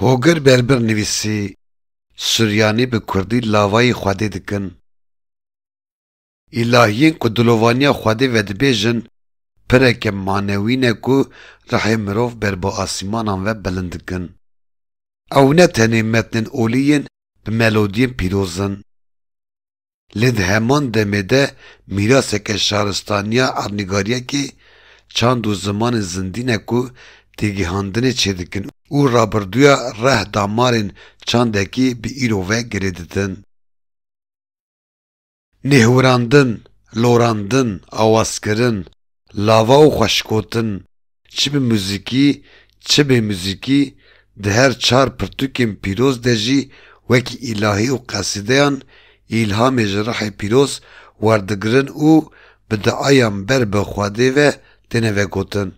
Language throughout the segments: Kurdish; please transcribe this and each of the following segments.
Hogir Berbir nivîsî, Suryanî bi kurdî lavayî xwedê dikin. Îlahiyên ku dilovaniya xwedê vedibêjin pireke manewî ne ku rihê mirov ber bi asîmanan ve bilind dikin. Ew ne tenê metnên olî yên bi melodiyên pîroz in. Lê di heman demê de mîraseke şaristaniya erdnîgariyekê, çand û zimanên zindî ne ku têgîhandinê çêdikin û rabirduya reh damarên çandekî bi îro ve girê didin. Nêhwirandin, lorandin, awazkirin, Lava û xweşikotin çi bi muzîkî çi bê muzîkî di her çar pirtûkên pîroz de jî wekî îlahî û qesîdeyan îlhamê ji rihê pîroz werdigirin û bi diayan ber bi Xwedê ve têne vegotin.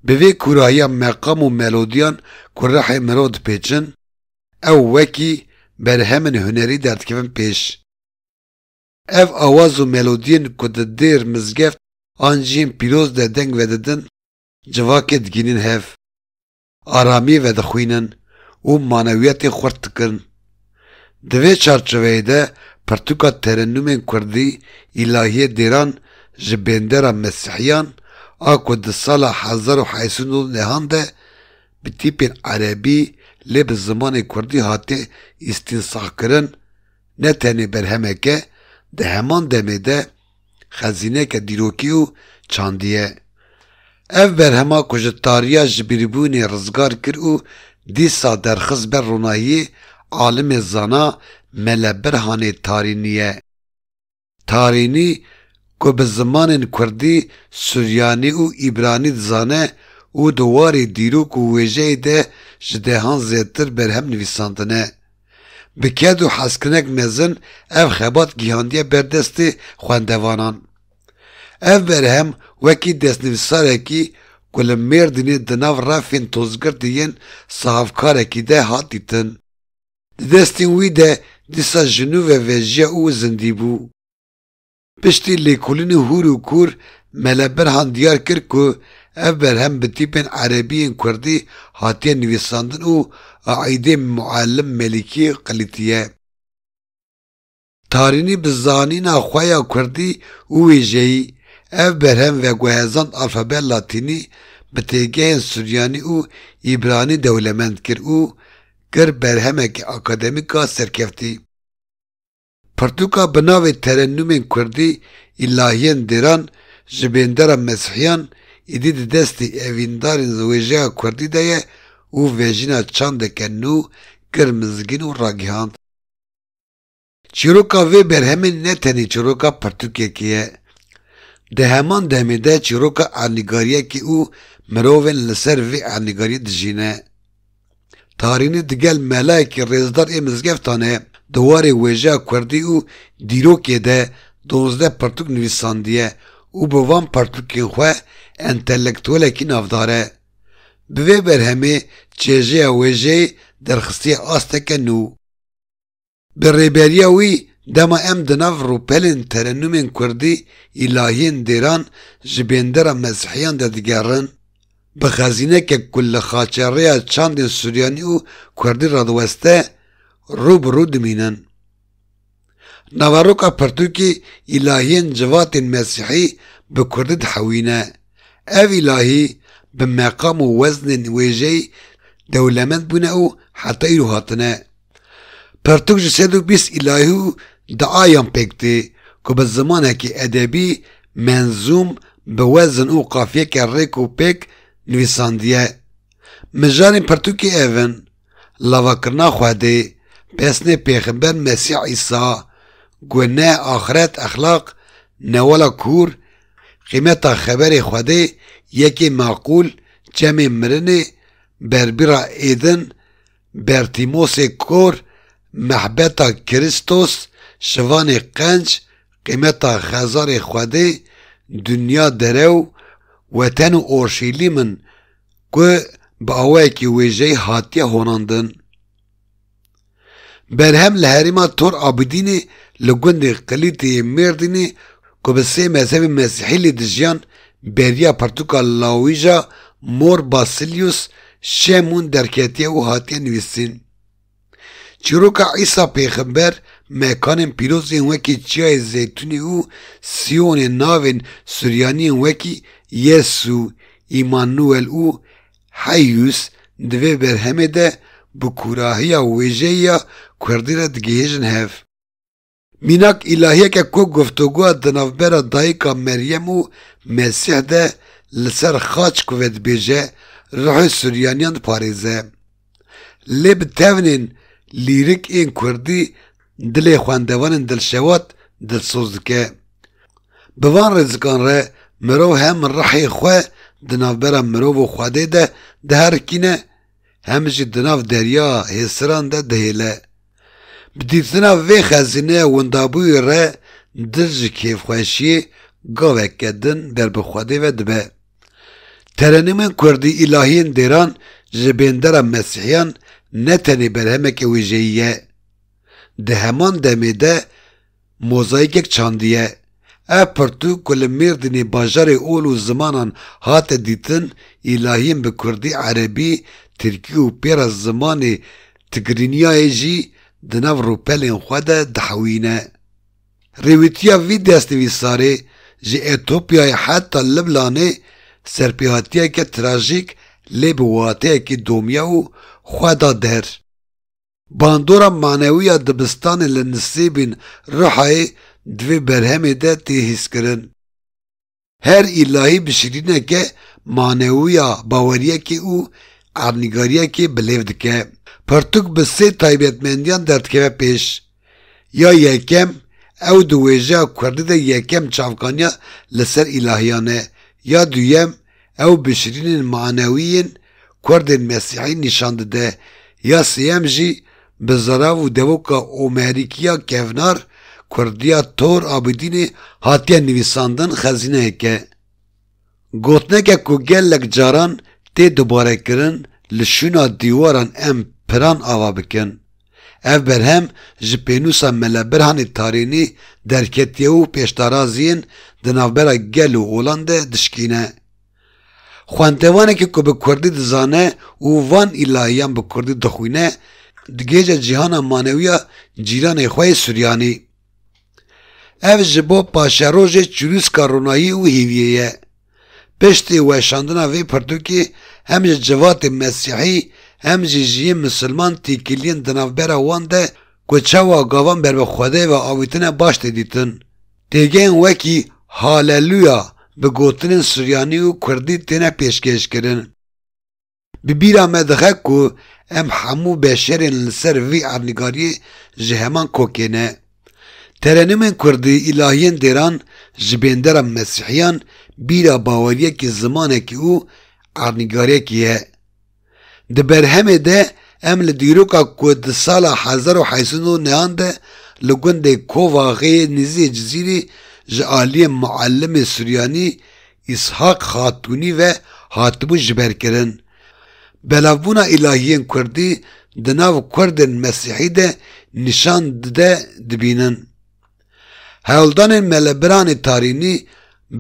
Bi vê kûrahiya meqam û melodiyan ku rihê mirov dipêçin, ew wekî berhemên hunerî derdikevin pêş. Ev awaz û melodiyên ku di dêr, mizgeft an cihên pîroz de deng vedidin civakê digihînin hev, aramiyê vedixwînin û manewiyetê xurt dikin. Di vê çarçoveyê de pirtûka terennûmên kurdî Îlahiyê Dêran ji bêndera Mesîhiyan a ku di sala hezar û heşt sed û nod nehan de bi tîpên erebî lê bi zimanê kurdî hate îstînsahkirin Ne tenê berhemek e, di heman demê de xezîneke dîrokî û çandî ye. Ev berhema ku ji tariya jibîrbûnê rizgar kir û dîsa derxist ber ronahiyê alimê zana Mele Birhanê Tarînî ye. Tarînî ku bi zimanên kurdî, suryanî û îbranî dizane û di warê dîrok û wêjeyê de ji dehan zêdtir berhem nivîsandine. Bi ked û hezkinek mezin ev xebat gihandiye ber destê xwendevanan. Ev berhem wekî destnivîsarekî ku li Mêrdînê di nav refên tozgirtî yên sahafkarekî de hat dîtin. Di destên wî de dîsa ji nû ve vejiya û zindî bû. Piştî lêkolînê hûr û kûr Mele Birhan diyar kir ku ev berhem bi tîpên erebî yên kurdî hatiye nivîsandin û aîdê Muallim Melîkî qilîtiye. Tarînî bi zanîna xwe ya kurdî û wêjeyî ev berhem veguhezand alfabeya latînî bi têgehên suryanî û îbranî dewlemend kir û kir berhemekî akademîk a serkeftî. Pirtûka bi navê Terennûmên Kurdî Îlahiyên Dêran ji bêndera Mesîhiyan îdî di destê evîndarên wêjeya kurdî de ye û vejîna çandeke nû kir mizgîn û ragihand. Çîroka vê berhemê ne tenê çîroka pirtûkekê ye, di heman demê de çîroka ernîgariyekê û mirovên li ser vê ernîgariyê dijîne. Tarînî digel melayekî rêzdar ê mizgeftan e, di warê wêjeya kurdî û dîrokê de donzdeh pirtûk nivîsandiye û bi van pirtûkên xwe entelektuwelekî navdar e. Bi vê berhemê çêjeya wêjeyê derxistiye asteke nû. Bi rêberiya wî dema em di nav rûpelên terenûmên kurdî, îlahiyên dêran ji bêndera mezhiyan de digerin, bi xezînekek ku li xaçerêya çandên suryanî û kurdî radiweste rû bi rû dimînin. Naveroka pirtûkê îlahiyên civatên mesihî bi kurdî dihewîne. Ev îlahî bi meqam û weznên wêjeyî dewlemend bûne û heta îro hatine. Pirtûk ji sed û bîst îlayî û diayan pêk tê ku bi zimanekî edebî, menzûm, bi wezin û qafiyeke rêk û pêk nivîsandiye. Mijarên pirtûkê ev in, Lavakirina Xwedê, Pesnê Pêxember Mesîh Îsa, Gune, Axiret, Exlaq, Newala Kûr, Qîmeta Xeberê Xwedê, Yekê Meqûl, Çemê Mirinê, Berbîra Êdin, Bertîmosê Kor, Mehbeta Kiristos, Şivanê Qenc, Qîmeta Xezarê Xwedê, Dinya Derew, Weten û Orşîlîm in ku bi awayekî wêjeyî hatiye honandin. Berhem li herêma Tor Abidînê li gundê Qilîtê yê Mêrdînê ku bi sê mezhebên mesîhî lê dijiyan, beriya pirtûka lawija Mor Basilius Şemun derketiye û hatiye nivîsîn. Çîroka Îsa Pêxember, mekanên pîroz yên wekî Çiyayê Zeytûnê û Sîyonê navên Suryaniyên wekî Yesû, Îmanuel û Heyûs di vê berhemê de bi kûrahiya wêjeyî ya kurdî re digihêjin hev. Mînak îlahiyeke ku guftugoya di navbera dayika Meryem û Mesîh de li ser xaç ku vedibêje ruhê Suryaniyan diparêze. Lê bi tewnên lîrik ên kurdî dilê xwendevanên dilşewat dilsoz dike. Bi van rêzikan re mirov hem ruhê xwe di navbera mirov û Xwedê de diherikîne hem jî di nav derya hêsiran de dihêle. Bi dîtina vê xezîneya windabûyê re dil ji kêfxweşiyê gaveke din ber bi Xwedê ve dibe. Terenîmên kurdî îlahiyên dêran ji bêndera mesîhiyan ne tenê berhemeke wêjeyî ye. Di heman demê de, Mozaîkek çandiye. Ev pirtûk ku li Mêrdînê bajarê ol û zimanan hate dîtin, îlahiyên bi kurdî, erebî, tirkî û pêra zimanê Tigrinyayê jî di nav rûpelên xwe de dihewîne. Rêwîtiya vî destnivîsarê ji Etopyayê heta Liblanê serpêhatiyeke trajîk lê bi wateyekî domya û xwe da der. Bandora manewî ya dibistanê li nisêbên Rihayê di vê berhemê de tê hîskirin. Her îlahî bi şirîneke manewî ya baweriyekê û ernîgariyekê bi lêv dike. Pirtûk bi sê taybetmendiyan derdikeve pêş. Ya yekem, ew di wêjeya kurdî de yekem çavkaniya li ser îlahiyan e. Ya duyem, Ew bişirînên manewî yên kurdên mesîhî nîşan dide. Ya sêyem jî bi zirav û devoka omerîkiya kevnar kurdiya Tor Abîdînê hatiye nivîsandin xezîneyeke gotineke ku gelek caran tê dubarekirin li şûna dîwaran em piran ava bikin. Ev berhem ji pênûsa Mela Birhanê Tarênî derketiye û pêşdaraziyên di navbera gel û olan de dişkîne. Xwendevanekî ku bi kurdî dizane û van îlahiyan bi kurdî dixwîne, digihêje cîhana manewiya cîranê xwe yê Suryanî. Ev ji bo paşerojê çirûska ronayî û hêviyê ye. Piştî weşandina vê pirtûkê hem ji civatên mesîhî hem jî ji yên misilman têkiliyên di navbera wan de ku çawa gavan ber bi Xwedê ve avîtine baş tê dîtin. Têgeyên wekî Haleluya bi gotinên suryanî û kurdî têne pêşkêşkirin. Bi bîra me dixe ku em hemû beşerên li ser vî erdnigariyê ji heman kokê ne. Terenûmên kurdî, îlahiyên dêran ji bêndera mesîhiyan bîra baweriyekî, zimanekî û erdnigariyekî ye. Di berhemê de em li dîroka ku di sala hezar û heşt sed û neh an de li gundê Kovaxê nêzî yê Cizîrê ji aliyê Muellimê Suryanî Îshak Xatûnî ve hatibû jiberkirin. Belavbûna îlahiyên kurdî di nav kurdên mesîhî de nîşan dide dibînin. Hewldanên Melebiranê Tarînî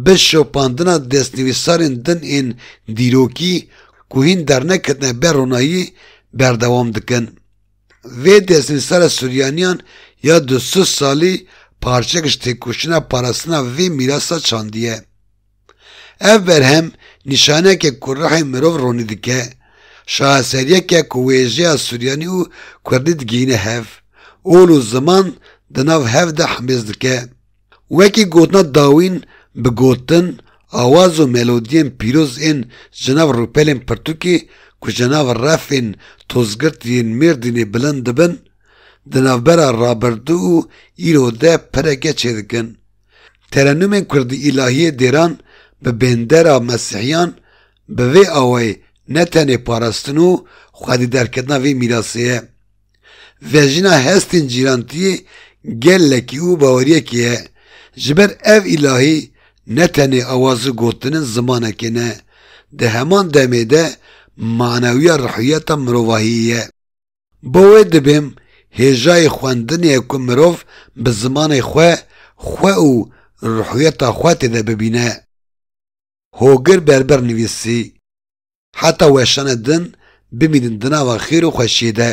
bi şopandina destnivîsarên din ên dîrokî ku hîn derneketine ber ronayî berdewam dikin. Vê destnivîsara Suryaniyan ya du sed salî parçeyek ji têkoşîna parastina vê mîrasa çandî ye. Ev berhem nîşaneyeke ku ruhê mirov ronî dike, şaheseriyeke ku wêjeya Suryanî û Kurdî digihîne hev, ol û ziman di nav hev de himêz dike. Wekî gotina dawîn bi gotin, awaz û melodiyên pîroz ên ji nav rûpelên pirtûkê ku ji nav refên tozgirt yên Mêrdînê bilind dibin, di navbera rabirdû û îro de pireke çêdikin. Terenûmên kurdî îlahiyê dêran bi bêndera mesîhiyan bi vê awayê ne tenê parastin û xwedîderketina vê mîrasê ye, Vejina hestên cîrantiyê gelekî û baweriyekî ye. Ji ber ev îlahî ne tenê awazî gotinin zimanekê ne, di heman demê de manewiya rihiyeta mirovahiyê ye. Bo wê dibim hêjayê xwendinê ye ku mirov bi zimanê xwe, xwe û rihiyeta xwe têde bibîne. Hogir Berber nivîsî. Heta weşane din bimînin di nava xêr û xweşiyê de.